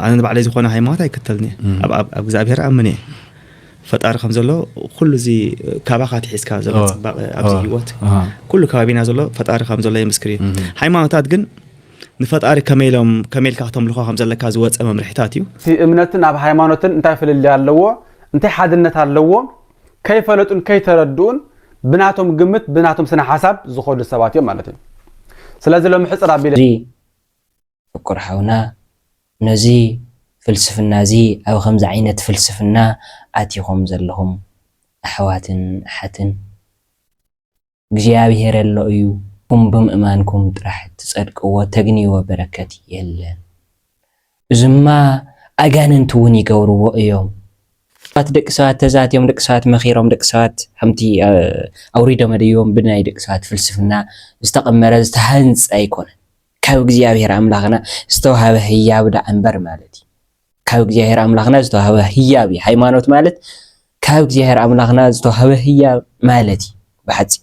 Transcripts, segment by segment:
ኣነ ንባዕለይ ዝኾነ ሃይማኖት ኣይክተልን እየ ኣብ ኣብ እግዚኣብሄር ኣምን እየ ፈጣሪ ከም ዘሎ ኩሉ እዚ ካባኻ ትሒዝካ ዘሎ ፅባቐ ኣብዚ ሂወት ኩሉ ከባቢና ዘሎ ፈጣሪ ከም ዘሎ የምስክር እዩ ሃይማኖታት ግን ንፈጣሪ ከመይ ኢሎም ከመይ ኢልካ ክተምልኾ ከም ዘለካ ዝወፀ መምርሒታት እዩ እቲ እምነትን ኣብ ሃይማኖትን እንታይ ፍልልይ ኣለዎ እንታይ ሓድነት ኣለዎ ከይፈለጡን ከይተረድኡን ብናቶም ግምት ብናቶም ስነ ሓሳብ ዝኾዱ ሰባት እዮም ማለት እዩ ስለዚ ሎሚ ሕፅር ኣቢለ ፍቁር ሓውና ነዚ ፍልስፍና እዚ ኣብ ከምዚ ዓይነት ፍልስፍና ኣቲኹም ዘለኹም ኣሕዋትን ኣሓትን እግዚኣብሄር ኣሎ እዩ እም ብምእማንኩም ጥራሕ ትጸድቅዎ ተግንይዎ በረከት የለን እዝማ ኣጋንንቲ ውን ይገብርዎ እዮም ባት ደቂ ሰባት ተዛትዮም ደቂ ሰባት መኺሮም ደቂ ሰባት ከምቲ ኣውሪዶም ኣደይቦም ብናይ ደቂ ሰባት ፍልስፍና ዝተቐመረ ዝተሃንጸ ኣይኮነን። ካብ እግዚኣብሔር ኣምላኽና ዝተዋህበ ህያብ ደኣ እምበር ማለት እዩ። ካብ እግዚኣብሔር ኣምላኽና ዝተዋህበ ህያብ እዩ። ሃይማኖት ማለት ካብ እግዚኣብሔር ኣምላኽና ዝተዋህበ ህያብ ማለት እዩ ብሓፂሩ።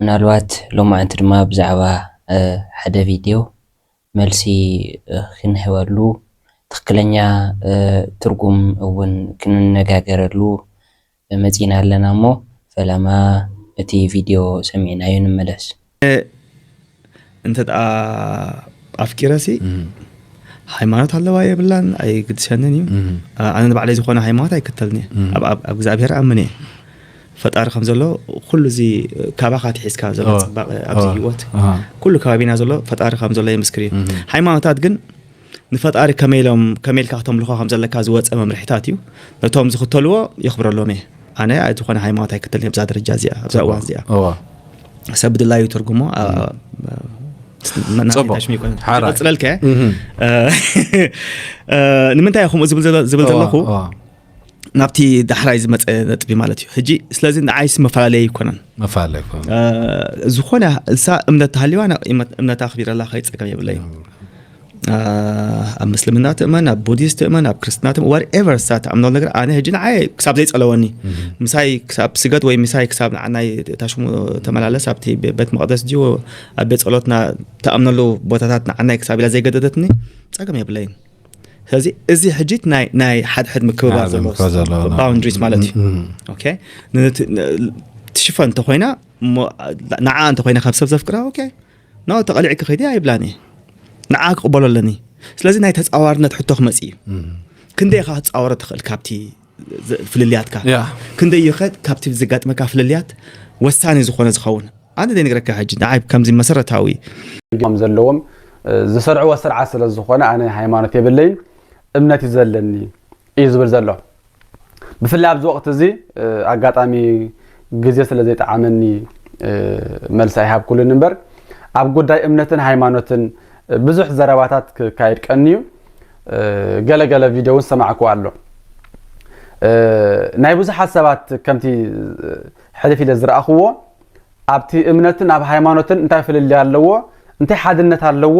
ምናልባት ሎማዕንቲ ድማ ብዛዕባ ሓደ ቪድዮ መልሲ ክንህበሉ ትኽክለኛ ትርጉም እውን ክንነጋገረሉ መፂእና ኣለና እሞ ፈለማ እቲ ቪድዮ ሰሚዕናዮ ንመለስ። እንተ ኣፍቂረሲ ሃይማኖት ኣለዋ የብላን ኣይግድሰንን እዩ ኣነ ንባዕለይ ዝኾነ ሃይማኖት ኣይክተልን እየ ኣብ እግዚኣብሄር ኣምን እየ ፈጣሪ ከም ዘሎ ኩሉ እዚ ካባኻ ትሒዝካ ዘሎ ፅባቐ ኣብዚ ሂወት ኩሉ ከባቢና ዘሎ ፈጣሪ ከም ዘሎ የምስክር እዩ ሃይማኖታት ግን ንፈጣሪ ከመይ ኢሎም ከመይ ኢልካ ክተምልኾ ከም ዘለካ ዝወጸ መምርሒታት እዩ ነቶም ዝኽተልዎ የኽብረሎም እየ ኣነ ኣይ ዝኾነ ሃይማኖት ኣይክተልን ኣብዛ ደረጃ እዚኣ ኣብዛ እዋን እዚኣ እዋ ሰብ ብድላዩ ትርጉሞ ኣ- ኣ- መናእሰይ ጽቡቕ። ታሽሚ ይኮነ። ሓራይ። ይቕጽለልከ? እ፣ እ፣ ንምንታይ እየ ከምኡ ዝብል ዘለ- ዝብል ዘለኹ እዋ፣ እዋ። ናብቲ ዳሕራይ ዝመፀ ነጥቢ ማለት እዩ ሕጂ ስለዚ ንዓይስ መፈላለየ ኣይኮነን መፈላለየ ኣይኮነን ዝኾነ እንሳ እምነት ተሃልዋ እምነት ኣኽቢረላ ከይፀገም የብለይ ኣብ ምስልምና ትእመን ኣብ ቡዲስት ትእመን ኣብ ክርስትና ትእመን ዋት ኤቨር ሳ ትኣምኖ ነገር ኣነ ሕጂ ንዓይ ክሳብ ዘይፀለወኒ ምሳይ ክሳብ ስገድ ወይ ምሳይ ክሳብ ንዓናይ ታሽሙ ተመላለስ ኣብቲ ቤት መቅደስ ድዩ ኣብ ቤት ፀሎትና ተኣምነሉ ቦታታት ንዓናይ ክሳብ ኢላ ዘይገደደትኒ ፀገም የብለይን ስለዚ እዚ ሕጂ ናይ ሓድሕድ ምክብባር ዘለዎ ባውንድሪስ ማለት እዩ ትሽፈን እንተኮይና ንዓ እንተኮይና ካብ ሰብ ዘፍቅራ ኦኬ ኖ ተቐሊዕኪ ከይዲ ኣይብላን እየ ንዓ ክቕበሎ ኣለኒ ስለዚ ናይ ተፃዋርነት ሕቶ ክመፅ እዩ ክንደይ ኢኻ ክትፃወሮ ትኽእል ካብቲ ፍልልያትካ ክንደይ እዩ ከ ካብቲ ዘጋጥመካ ፍልልያት ወሳኒ ዝኾነ ዝኸውን ኣነ ዘይነግረካ ሕጂ ንዓይ ከምዚ መሰረታዊ ከም ዘለዎም ዝሰርዕዎ ስርዓት ስለ ዝኾነ ኣነ ሃይማኖት የብለይን እምነት እዩ ዘለኒ እዩ ዝብል ዘሎ ብፍላይ ኣብዚ ወቅቲ እዚ ኣጋጣሚ ግዜ ስለ ዘይጠዓመኒ መልሲ ኣይሃብኩሉን እምበር ኣብ ጉዳይ እምነትን ሃይማኖትን ብዙሕ ዘረባታት ክካየድ ቀንዩ ገለ ገለ ቪድዮ እውን ዝሰማዕኩዎ ኣሎ ናይ ብዙሓት ሰባት ከምቲ ሕልፍ ኢለ ዝረኣኹዎ ኣብቲ እምነትን ኣብ ሃይማኖትን እንታይ ፍልልያ ኣለዎ እንታይ ሓድነት ኣለዎ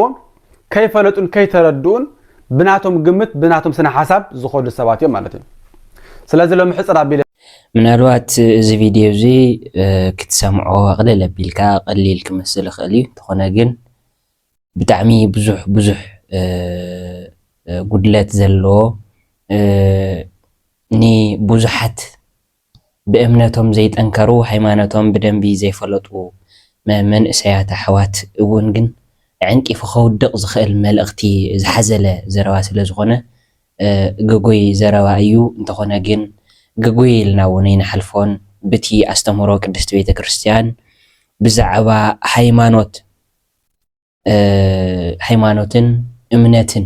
ከይፈለጡን ከይተረድኡን ብናቶም ግምት ብናቶም ስነ ሓሳብ ዝኸዱ ሰባት እዮም ማለት እዩ ስለዚ ሎሚ ሕፅር ኣቢለ ምናልባት እዚ ቪድዮ እዚ ክትሰምዖ ኣቕልል ኣቢልካ ቀሊል ክመስል ይኽእል እዩ እንተኾነ ግን ብጣዕሚ ብዙሕ ብዙሕ ጉድለት ዘለዎ ንቡዙሓት ብእምነቶም ዘይጠንከሩ ሃይማኖቶም ብደንቢ ዘይፈለጡ መንእሰያት ኣሕዋት እውን ግን ኣዐንቂፉ ከውድቕ ዝኽእል መልእኽቲ ዝሓዘለ ዘረባ ስለ ዝኾነ ግጉይ ዘረባ እዩ እንተኾነ ግን ግጉይ ኢልና እውን ኣይንሓልፎን ብቲ ኣስተምህሮ ቅድስቲ ቤተ ክርስትያን ብዛዕባ ሃይማኖት ሃይማኖትን እምነትን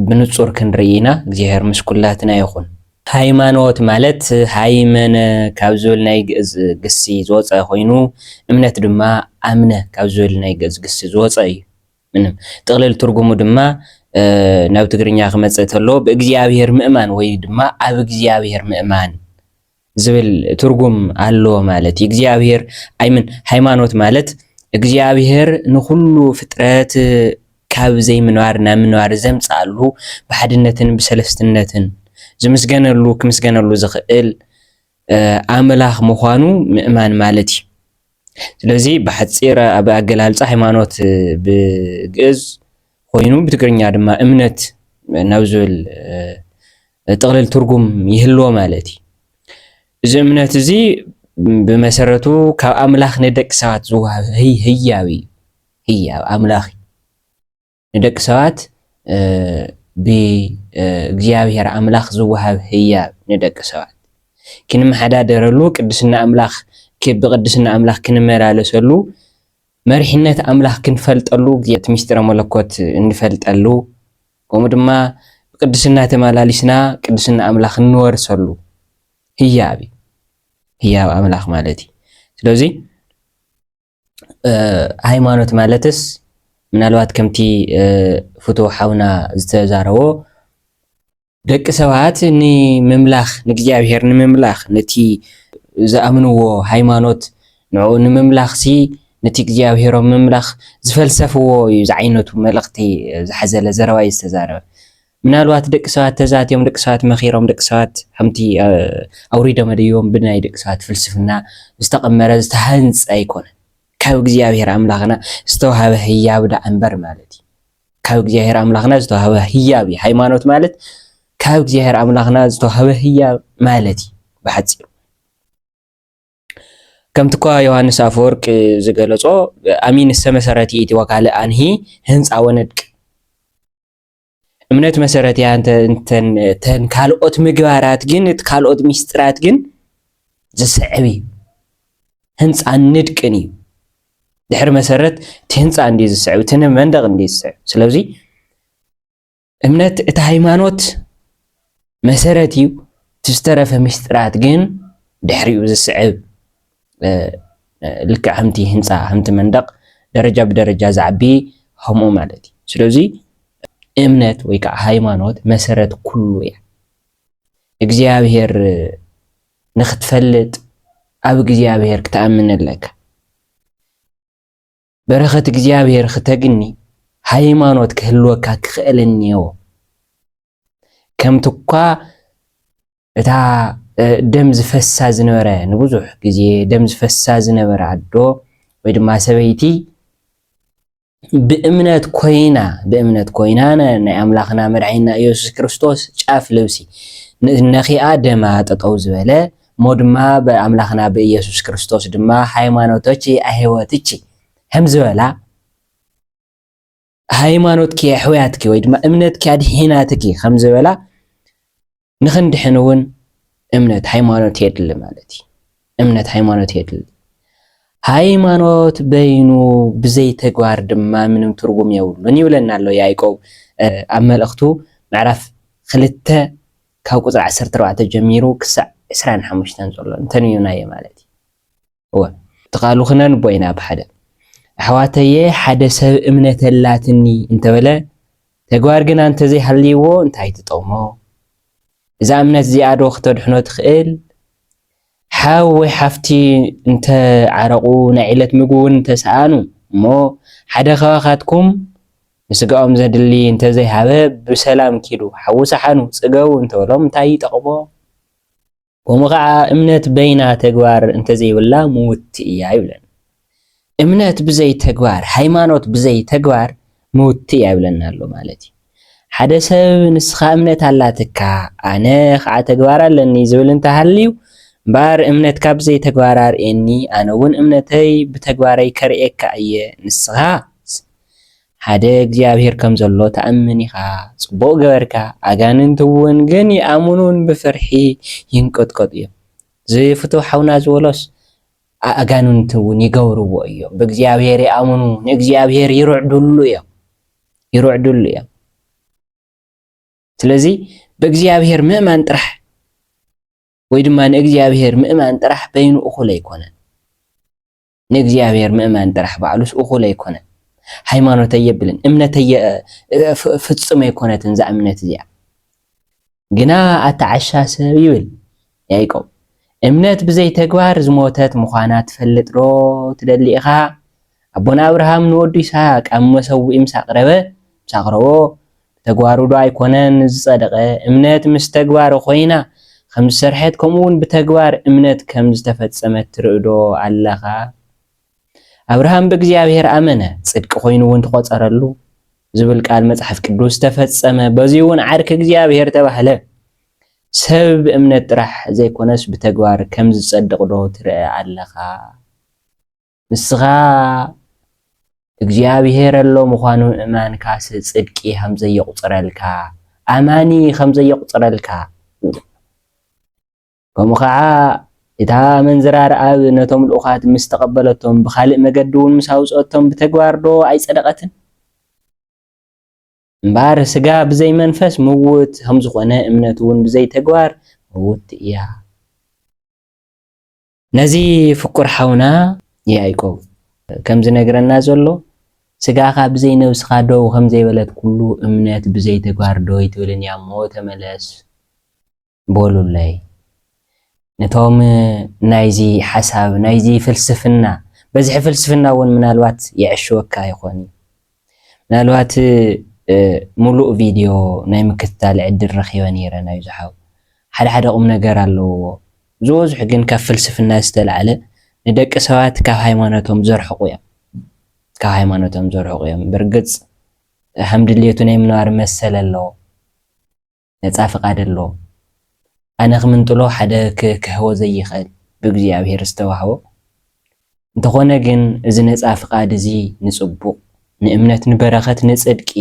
ብንጹር ክንርኢ ኢና። እግዚኣብሔር ምስ ኩላትና ይኹን። ሃይማኖት ማለት ሃይመነ ካብ ዝብል ናይ ግእዝ ግሲ ዝወጸ ኮይኑ እምነት ድማ ኣምነ ካብ ዝብል ናይ ግእዝ ግሲ ዝወጸ እዩ። ምንም ጥቕልል ትርጉሙ ድማ ናብ ትግርኛ ክመጽእ ተሎ ብእግዚኣብሔር ምእማን ወይ ድማ ኣብ እግዚኣብሔር ምእማን ዝብል ትርጉም ኣለዎ ማለት እዩ። እግዚኣብሔር ኣይምን ሃይማኖት ማለት እግዚኣብሔር ንኹሉ ፍጥረት ካብ ዘይምንባር ናብ ምንባር ዘምጽኣሉ ብሓድነትን ብሰለስትነትን ዝምስገነሉ ክምስገነሉ ዝኽእል ኣምላኽ ምዃኑ ምእማን ማለት እዩ። ስለዚ ብሓፂር ኣብ ኣገላልፃ ሃይማኖት ብግእዝ ኮይኑ ብትግርኛ ድማ እምነት ናብ ዝብል ጥቕልል ትርጉም ይህልዎ ማለት እዩ። እዚ እምነት እዚ ብመሰረቱ ካብ ኣምላኽ ንደቂ ሰባት ዝወሃብ ህያብ እዩ። ህያብ ኣምላኽ እዩ። ንደቂ ሰባት ብእግዚኣብሔር ኣምላኽ ዝወሃብ ህያብ ንደቂ ሰባት ክንመሓዳደረሉ ቅድስና ኣምላኽ ብቅድስና ኣምላኽ ክንመላለሰሉ መሪሕነት ኣምላኽ ክንፈልጠሉ እቲ ምስጢረ መለኮት እንፈልጠሉ ከምኡ ድማ ብቅድስና ተመላሊስና ቅድስና ኣምላኽ እንወርሰሉ ህያብ እዩ። ህያብ ኣምላኽ ማለት እዩ። ስለዚ ሃይማኖት ማለትስ ምናልባት ከምቲ ፍትው ሓውና ዝተዛረቦ ደቂ ሰባት ንምምላኽ ንእግዚኣብሔር ንምምላኽ ነቲ ዝኣምንዎ ሃይማኖት ንዕኡ ንምምላኽሲ ነቲ እግዚኣብሔሮም ምምላኽ ዝፈልሰፍዎ እዩ ዝዓይነቱ መልእኽቲ ዝሓዘለ ዘረባ እዩ ዝተዛረበ። ምናልባት ደቂ ሰባት ተዛትዮም፣ ደቂ ሰባት መኺሮም፣ ደቂ ሰባት ሓምቲ ኣውሪዶም ኣደይቦም ብናይ ደቂ ሰባት ፍልስፍና ዝተቐመረ ዝተሃንጸ ኣይኮነን። ካብ እግዚኣብሔር ኣምላኽና ዝተዋህበ ህያብ ደኣ እምበር ማለት እዩ። ካብ እግዚኣብሔር ኣምላኽና ዝተዋህበ ህያብ እዩ። ሃይማኖት ማለት ካብ እግዚኣብሔር ኣምላኽና ዝተዋህበ ህያብ ማለት እዩ ብሓጺሩ። ከምቲኳ ዮሃንስ ኣፈወርቅ ዝገለጾ ኣሚን እስተመሰረት ይእቲ ወካልእ ኣንሂ ህንፃ ወነድቅ እምነት መሰረት እያ እንተን ካልኦት ምግባራት ግን እቲ ካልኦት ሚስጥራት ግን ዝስዕብ እዩ ህንፃን ንድቅን እዩ ድሕሪ መሰረት እቲ ህንፃ እንዲ ዝስዕብ እቲ መንደቕ እንዲ ዝስዕብ ስለዚ እምነት እቲ ሃይማኖት መሰረት እዩ፣ እቲ ዝተረፈ ምስጢራት ግን ድሕሪኡ ዝስዕብ ልክዕ ከምቲ ህንፃ ከምቲ መንደቕ ደረጃ ብደረጃ ዝዓቢ ከምኡ ማለት እዩ። ስለዚ እምነት ወይ ከዓ ሃይማኖት መሰረት ኩሉ እያ። እግዚኣብሔር ንክትፈልጥ ኣብ እግዚኣብሔር ክትኣምን ኣለካ። በረኸት እግዚኣብሔር ክተግኒ ሃይማኖት ክህልወካ ክኽእል እኒኦ ከምቲ እኳ እታ ደም ዝፈሳ ዝነበረ ንብዙሕ ግዜ ደም ዝፈሳ ዝነበረ ኣዶ ወይ ድማ ሰበይቲ ብእምነት ኮይና ብእምነት ኮይና ናይ ኣምላኽና መድዓይና ኢየሱስ ክርስቶስ ጫፍ ልብሲ ነኺኣ ደማ ጠጠው ዝበለ እሞ ድማ ብኣምላክና ብኢየሱስ ክርስቶስ ድማ ሃይማኖቶች ኣሕወትች ሀም ዝበላ፣ ሃይማኖትኪ ኣሕውያትኪ ወይ ድማ እምነትኪ ኣድሒናትኪ ኸም ዝበላ ንኽንድሕን እውን እምነት ሃይማኖት የድሊ ማለት እዩ። እምነት ሃይማኖት የድሊ። ሃይማኖት በይኑ ብዘይ ተግባር ድማ ምንም ትርጉም የብሉን ይብለና ኣሎ ያዕቆብ ኣብ መልእኽቱ ምዕራፍ ክልተ ካብ ቁጽሪ ዓሰርተ ኣርባዕተ ጀሚሩ ክሳዕ ዕስራን ሓሙሽተን ዘሎ እንተንዩናዮ ማለት እዩ። እወ እቲ ቃሉ ክነንቦ ኢና ብሓደ። ኣሕዋተየ ሓደ ሰብ እምነት ኣላትኒ እንተበለ ተግባር ግና እንተዘይሃልይዎ እንታይ ትጠቕሞ? እዛ እምነት እዚኣዶ ክተድሕኖ ትኽእል? ሓው ወይ ሓፍቲ እንተ ዓረቑ፣ ናይ ዕለት ምግቢ እውን እንተ ሰኣኑ፣ እሞ ሓደ ኻባኻትኩም ንስጋኦም ዜድሊ እንተ ዘይሃበ፣ ብሰላም ኪዱ፣ ሓዊ ሰሓኑ፣ ጽገቡ እንተ በሎም እንታይ ይጠቕሞ? ከምኡ ኸኣ እምነት በይና ተግባር እንተ ዘይብላ ምውትቲ እያ ይብለና። እምነት ብዘይ ተግባር፣ ሃይማኖት ብዘይ ተግባር ምውቲ እያ ይብለና ኣሎ ማለት እዩ። ሓደ ሰብ ንስኻ እምነት ኣላትካ ኣነ ኸዓ ተግባር ኣለኒ ዝብል እንተሃልዩ እምበኣር እምነትካ ብዘይ ተግባር ኣርእየኒ ኣነ እውን እምነተይ ብተግባረይ ከርእየካ እየ ንስኻስ ሓደ እግዚኣብሔር ከም ዘሎ ትኣምን ኢኻ ፅቡቕ ገበርካ ኣጋንንቲ እውን ግን ይኣምኑን ብፍርሒ ይንቀጥቀጡ እዮም እዚ ፍትው ሓውና ዝበሎስ ኣእጋንንቱ እውን ይገብርዎ እዮም። ብእግዚኣብሔር ይኣምኑ፣ ንእግዚኣብሔር ይርዕድሉ እዮም ይርዕድሉ እዮም። ስለዚ ብእግዚኣብሔር ምእማን ጥራሕ ወይ ድማ ንእግዚኣብሔር ምእማን ጥራሕ በይኑ እኹል ኣይኮነን። ንእግዚኣብሔር ምእማን ጥራሕ ባዕሉስ እኹል ኣይኮነን። ሃይማኖት ኣየብልን እምነት ፍጹም ኣይኮነትን እዛ እምነት እዚኣ። ግና ኣታ ዓሻ ሰብ ይብል ያኢቆብ እምነት ብዘይ ተግባር ዝሞተት ምዃና ትፈልጥ ዶ ትደሊ ኢኻ ኣቦና ኣብርሃም ንወዱ ይስሃቅ ኣብ መሰውኢ ምስ ኣቅረበ ምስ ኣቅረቦ ብተግባሩ ዶ ኣይኮነን ዝጸደቀ እምነት ምስ ተግባር ኮይና ከምዝሰርሐት ከምኡውን ብተግባር እምነት ከምዝተፈጸመት ትርኢ ዶ ኣለኻ ኣብርሃም ብእግዚኣብሔር ኣመነ፣ ጽድቂ ኮይኑውን ተቆጸረሉ ዝብል ቃል መጽሓፍ ቅዱስ ተፈጸመ፣ በዚውን ዓርኪ እግዚኣብሔር ተባህለ። ሰብ ብእምነት ጥራሕ ዘይኮነስ ብተግባር ከም ዝጸድቕዶ ትርእ ኣለኻ? ንስኻ እግዚኣብሔር ኣሎ ምዃኑ ምእማንካስ ጽድቂ ከም ዘየቁጽረልካ፣ ኣማኒ ከም ዘየቁጽረልካ፣ ከምኡ ኸዓ እታ ኣመንዝራ ረኣብ ነቶም ልኡኻት ምስ ተቐበለቶም ብኻልእ መገዲውን ምስ ኣውፅኦቶም ብተግባርዶ ኣይፀደቐትን? እምበኣር ስጋ ብዘይ መንፈስ ምውት ከምዝኾነ እምነትውን ብዘይ ተግባር ምውቲ እያ። ነዚ ፍቁር ሓውና ያእቆብ ከምዝነግረና ዘሎ ስጋኻ ብዘይ ነብስኻ ደው ከምዘይበለት ኩሉ እምነት ብዘይ ተግባር ደው ኣይትብልን እያ እሞ ተመለስ። በሉለይ። ነቶም ናይዚ ሓሳብ ናይዚ ፍልስፍና በዝሒ ፍልስፍና እውን ምናልባት የዐሽወካ ይኾን እዩ። ምናልባት ሙሉእ ቪድዮ ናይ ምክትታል ዕድል ረኺበ ነይረ ናይዚ ሓው። ሓደ ሓደ ቁም ነገር ኣለውዎ። ዝበዝሑ ግን ካብ ፍልስፍና ዝተልዓለ ንደቂ ሰባት ካብ ሃይማኖቶም ዘርሕቑ እዮም። ካብ ሃይማኖቶም ዘርሕቑ እዮም። ብርግፅ ሃም ድሌቱ ናይ ምንባር መሰል ኣለዎ። ነጻ ፍቃድ ኣሎ ኣነ ክምንጥሎ ሓደ ክክህቦ ዘይክእል ብእግዚኣብሔር ዝተዋህቦ እንተኾነ ግን እዚ ነጻ ፍቃድ እዚ ንጽቡቅ ንእምነት ንበረከት ንጽድቂ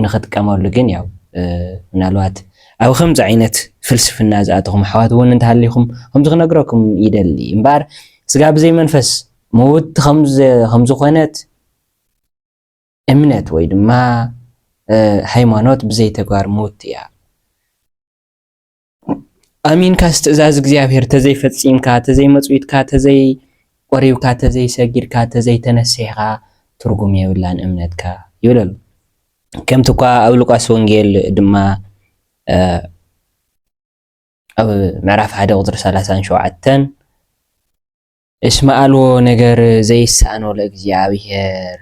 ንክጥቀመሉ ግን ያው ምናልባት ኣብ ከምዚ ዓይነት ፍልስፍና ዝኣተኹም ኣሕዋት እውን እንተሃሊኹም ከምዚ ክነግረኩም ይደሊ እምበኣር ስጋ ብዘይ መንፈስ ምውት ከምዝኾነት እምነት ወይ ድማ ሃይማኖት ብዘይ ተግባር ምውቲ እያ። ኣሚንካስ ትእዛዝ እግዚኣብሔር ተዘይፈፂምካ ተዘይመፅዊትካ ተዘይ ቆሪብካ ተዘይሰጊድካ ተዘይተነሲሕካ ትርጉም የብላን እምነትካ ይብል ኣሎ ከምቲ እኳ ኣብ ሉቃስ ወንጌል ድማ ኣብ ምዕራፍ ሓደ ቁፅሪ ሰላሳን ሸውዓተን እስመ ኣልቦ ነገር ዘይሳኣኖ ለእግዚኣብሔር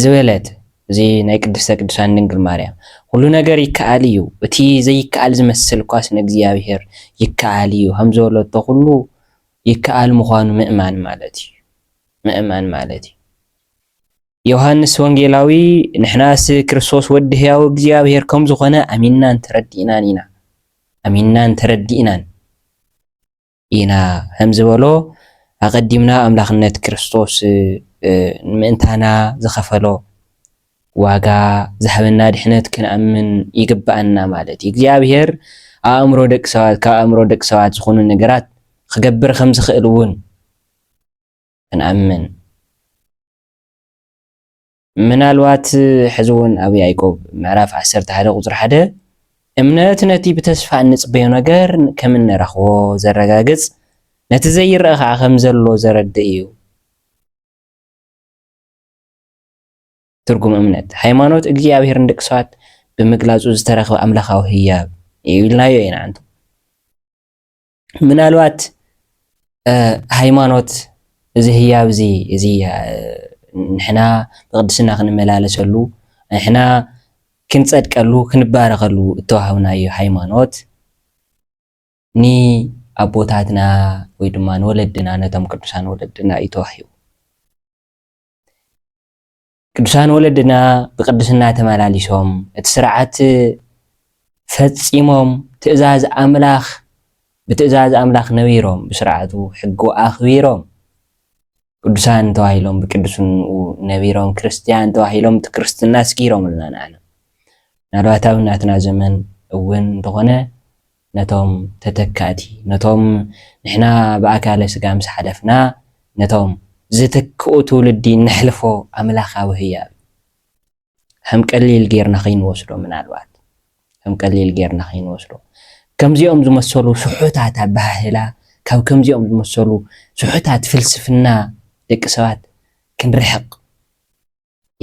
ዝበለት እዚ ናይ ቅድስተ ቅዱሳን ድንግል ማርያም ኩሉ ነገር ይከኣል እዩ፣ እቲ ዘይከኣል ዝመስል እኳስ ንእግዚኣብሔር ይከኣል እዩ ከም ዝበለቶ ኩሉ ይከኣል ምዃኑ ምእማን ማለት እዩ ምእማን ማለት እዩ። ዮሃንስ ወንጌላዊ ንሕናስ ክርስቶስ ወዲ ሕያው እግዚኣብሔር ከም ዝኾነ ኣሚንናን ተረዲእናን ኢና ኣሚንናን ተረዲእናን ኢና ኸም ዝበሎ፣ ኣቐዲምና ኣምላኽነት ክርስቶስ ምእንታና ዝኸፈሎ ዋጋ ዝሃበና ድሕነት ክንኣምን ይግብኣና ማለት እዩ። እግዚኣብሄር ኣእምሮ ደቂ ሰባት ካብ ኣእምሮ ደቂ ሰባት ዝኾኑ ነገራት ክገብር ከም ዝኽእል እውን ክንኣምን ምናልባት ሕዚ እውን ኣብ ያእቆብ ምዕራፍ ዓሰርተ ሓደ ቁፅሪ ሓደ እምነት ነቲ ብተስፋ እንፅበዮ ነገር ከም እንረኽቦ ዘረጋግፅ፣ ነቲ ዘይረኣ ከዓ ከም ዘሎ ዘረድእ እዩ። ትርጉም እምነት ሃይማኖት እግዚኣብሔር ንደቂ ሰባት ብምግላፁ ዝተረኽበ ኣምላካዊ ህያብ እዩ ኢልናዮ ኢና። ምናልባት ሃይማኖት እዚ ህያብ እዚ እዚ ንሕና ብቅድስና ክንመላለሰሉ ንሕና ክንጸድቀሉ ክንባረኸሉ እተዋህብናዮ ሃይማኖት ንኣቦታትና ወይ ድማ ንወለድና ነቶም ቅዱሳን ወለድና እዩ ተዋሂቡ። ቅዱሳን ወለድና ብቅድስና ተመላሊሶም እቲ ስርዓት ፈጺሞም ትእዛዝ ኣምላኽ ብትእዛዝ ኣምላኽ ነቢሮም ብስርዓቱ ሕጉ ኣኽቢሮም ቅዱሳን ተባሂሎም ብቅዱስንኡ ነቢሮም ክርስትያን ተባሂሎም እቲ ክርስትና ስጊሮምልና ንዓና ምናልባት ኣብ ናትና ዘመን እውን እንተኾነ ነቶም ተተካእቲ፣ ነቶም ንሕና ብኣካለ ስጋ ምስ ሓለፍና ነቶም ዝትክኡ ትውልዲ እነሕልፎ ኣምላኻዊ ህያብ እዩ። ከም ቀሊል ጌርና ከይንወስዶ ምናልባት ከም ቀሊል ጌርና ከይንወስዶ ከምዚኦም ዝመሰሉ ስሑታት ኣበሃህላ ካብ ከምዚኦም ዝመሰሉ ስሑታት ፍልስፍና ደቂ ሰባት ክንርሕቕ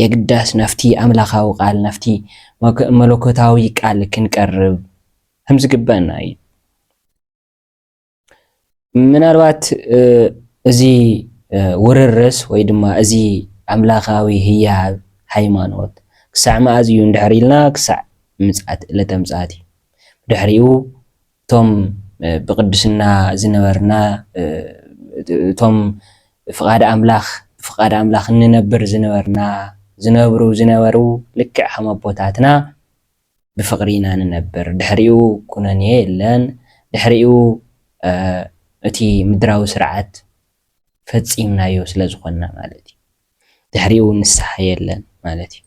የግዳስ ናብቲ ኣምላኻዊ ቃል፣ ናብቲ መለኮታዊ ቃል ክንቀርብ ከም ዝግብኣና እዩ። ምናልባት እዚ ውርርስ ወይ ድማ እዚ ኣምላኻዊ ህያብ ሃይማኖት ክሳዕ መኣዝ እዩ እንድሕር ኢልና ክሳዕ ምጽኣት ዕለተ ምጽኣት እዩ። ብድሕሪኡ እቶም ብቅድስና ዝነበርና እቶም ፍቃድ ኣምላኽ ብፍቃድ ኣምላኽ እንነብር ዝነበርና ዝነብሩ ዝነበሩ ልክዕ ከም ኣቦታትና ብፍቅሪ ኢና ንነብር ድሕሪኡ ኩነኔ የለን ድሕሪኡ እቲ ምድራዊ ስርዓት ፈጺምናዮ ስለ ዝኾንና ማለት እዩ። ድሕሪኡ ንስሓ የለን ማለት እዩ።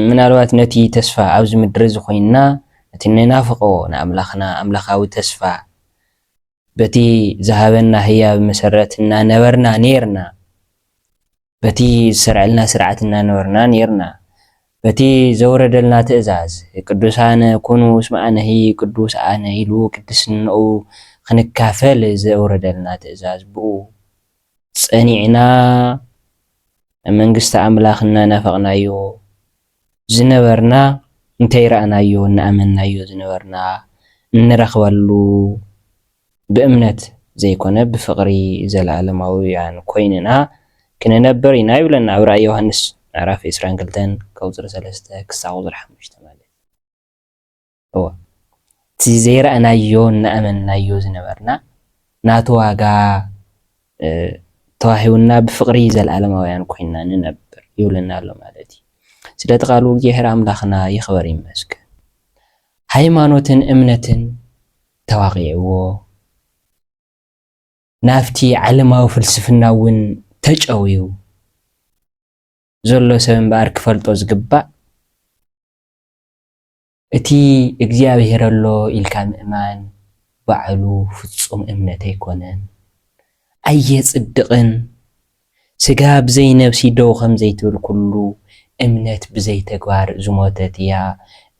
ምናልባት ነቲ ተስፋ ኣብዚ ምድሪ እዚ ዀይንና ነቲ እንናፍቖ ንኣምላኽና ኣምላኻዊ ተስፋ በቲ ዝሃበና ህያብ መሰረት እናነበርና ኔርና፣ በቲ ዝሰርዐልና ስርዓት እናነበርና ኔርና፣ በቲ ዘውረደልና ትእዛዝ ቅዱሳን ኩኑ እስመ ኣነሂ ቅዱስ ኣነ ኢሉ ቅድስንኡ ኽንካፈል ዘውረደልና ትእዛዝ ብኡ ጸኒዕና ናብ መንግስቲ ኣምላኽ እናናፈቕናዮ ዝነበርና እንታይ ረኣናዮ እናኣመንናዮ ዝነበርና እንረኽበሉ ብእምነት ዘይኮነ ብፍቕሪ ዘለኣለማውያን ኮይንና ክንነብር ኢና ይብለና ኣብ ራእይ ዮሃንስ ምዕራፍ ዕስራን ክልተን ከቁጽሪ ሰለስተ ክሳብ ቁጽሪ ሓሙሽተ ማለት እወ እቲ ዘይረኣናዮ እናኣመንናዮ ዝነበርና ናቱ ዋጋ ተዋሂቡና ብፍቕሪ ዘለኣለማውያን ኮይንና ንነብር ይብለና ኣሎ ማለት እዩ። ስለቲ ቃሉ እግዚኣሔር ኣምላኽና ይኽበር ይመስገን። ሃይማኖትን እምነትን ተዋቒዕዎ ናብቲ ዓለማዊ ፍልስፍና እውን ተጨውዩ ዘሎ ሰብ እምበኣር ክፈልጦ ዝግባእ እቲ እግዚኣብሄር ኣሎ ኢልካ ምእማን ባዕሉ ፍጹም እምነት ኣይኮነን። ኣየጽድቕን። ስጋ ብዘይ ነብሲ ደው ከም ዘይትብል ኩሉ እምነት ብዘይ ተግባር ዝሞተት እያ።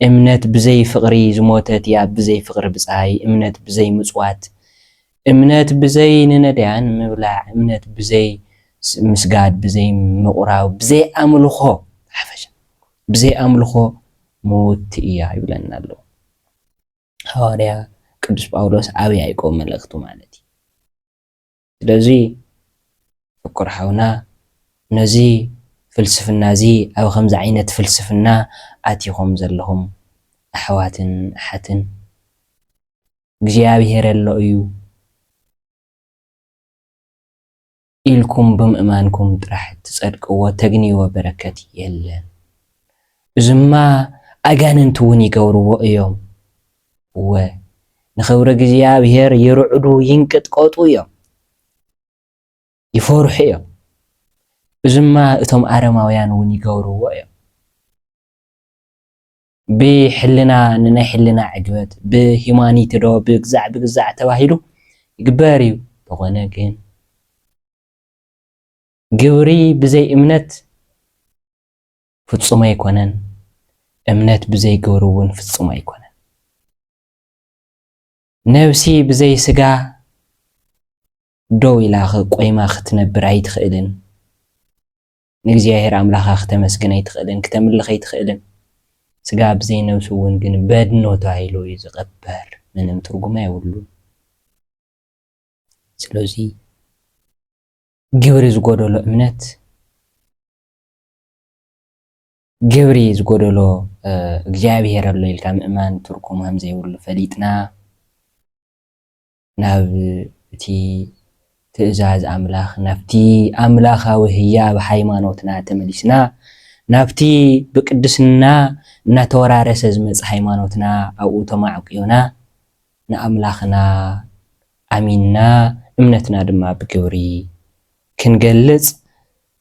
እምነት ብዘይ ፍቕሪ ዝሞተት እያ ብዘይ ፍቕሪ ብጻይ እምነት ብዘይ ምጽዋት እምነት ብዘይ ንነዳያን ምብላዕ እምነት ብዘይ ምስጋድ ብዘይ ምቑራብ ብዘይ ኣምልኾ ብሓፈሻ ብዘይ ኣምልኾ ምውቲ እያ ይብለና ኣሎ ሃዋርያ ቅዱስ ጳውሎስ ኣብ ያእቆብ መልእኽቱ ማለት እዩ። ስለዚ ፍቁር ሓውና ነዚ ፍልስፍና እዚ ኣብ ከምዚ ዓይነት ፍልስፍና ኣቲኹም ዘለኹም ኣሕዋትን ኣሓትን እግዚኣብሄር ኣሎ እዩ፣ ኢልኩም ብምእማንኩም ጥራሕ ትጸድቅዎ ተግንይዎ በረከት የለን እዙማ ኣጋንንቲ እውን ይገብርዎ እዮም እወ ንክብሪ እግዚኣብሔር ይርዕዱ ይንቅጥቀጡ እዮም ይፈርሑ እዮም እዙማ እቶም ኣረማውያን እውን ይገብርዎ እዮም። ብሕልና ንናይ ሕልና ዕግበት ብሂማኒቲ ዶ ብግዛዕ ብግዛዕ ተባሂሉ ይግበር እዩ ተኾነ ግን ግብሪ ብዘይ እምነት ፍጹም ኣይኮነን እምነት ብዘይ ግብሪ እውን ፍጹም ኣይኮነን ነብሲ ብዘይ ስጋ ደው ኢላ ቆይማ ክትነብር ኣይትኽእልን ንእግዚኣብሔር ኣምላካ ክተመስግን ኣይትክእልን ክተምልክ ኣይትክእልን ስጋ ብዘይ ነብሱ እውን ግን በድኖ ተባሂሉ እዩ ዝቀበር ምንም ትርጉም ኣይብሉን ስለዙይ ግብሪ ዝጎደሎ እምነት ግብሪ ዝጎደሎ እግዚኣብሔር ኣሎ ኢልካ ምእማን ትርጉም ከምዘይብሉ ፈሊጥና ናብ እቲ ትእዛዝ ኣምላኽ፣ ናብቲ ኣምላኻዊ ህያብ ሃይማኖትና ተመሊስና፣ ናብቲ ብቅድስና እናተወራረሰ ዝመጸ ሃይማኖትና ኣብኡ ተማዕቊና፣ ንኣምላኽና ኣሚንና እምነትና ድማ ብግብሪ ክንገልጽ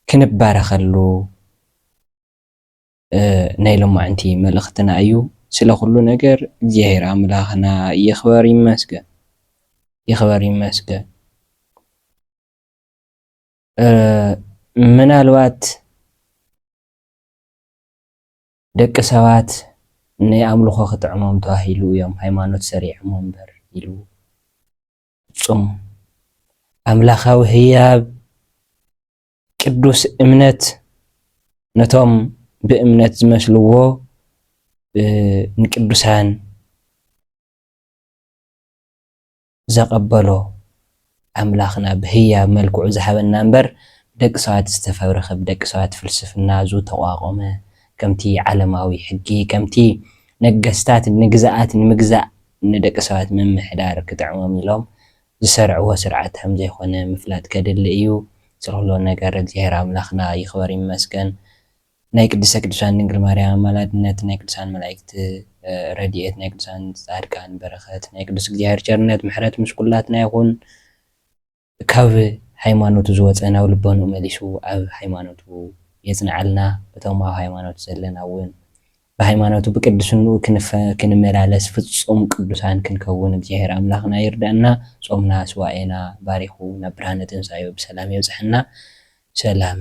ክንባረኸሉ፣ ናይ ሎማዕንቲ መልእክትና እዩ ስለ ኩሉ ነገር እግዚኣብሔር ኣምላክና ይክበር ይመስገን ይክበር ይመስገን ምናልባት ደቂ ሰባት ናይ ኣምልኮ ክጥዕሞም ተባሂሉ እዮም ሃይማኖት ሰሪዖሞ እምበር ኢሉ ፍፁም ኣምላካዊ ህያብ ቅዱስ እምነት ነቶም ብእምነት ዝመስልዎ ንቅዱሳን ዘቐበሎ ኣምላኽና ብህያብ መልክዑ ዝሃበና እምበር ብደቂ ሰባት ዝተፈብረኸ ብደቂ ሰባት ፍልስፍና ዝተቋቖመ ከምቲ ዓለማዊ ሕጊ ከምቲ ነገስታት ንግዝኣት ንምግዛእ ንደቂ ሰባት ምምሕዳር ክጥዕሞም ኢሎም ዝሰርዕዎ ስርዓት ከምዘይኮነ ምፍላጥ ከድሊ እዩ ዝኩሉ ነገር እግዚኣብሔር ኣምላክና ይክበር ይመስገን ናይ ቅድስተ ቅዱሳን ድንግል ማርያም ኣማላድነት ናይ ቅዱሳን መላእክት ረድኤት ናይ ቅዱሳን ፃድቃን በረከት ናይ ቅዱስ እግዚኣብሔር ቸርነት ምሕረት ምስ ኩላትና ይኩን ካብ ሃይማኖቱ ዝወፀ ናብ ልቦንኡ መሊሱ ኣብ ሃይማኖቱ የፅንዐልና እቶም ኣብ ሃይማኖት ዘለና እውን ብሃይማኖቱ ብቅድስንኡ ክንፈ ክንመላለስ ፍጹም ቅዱሳን ክንከውን እግዚኣሄር ኣምላኽና ይርድኣና ጾምና ሱባኤና ባሪኹ ናብ ብርሃነ ትንሳኤኡ ብሰላም የብጽሐና ሰላም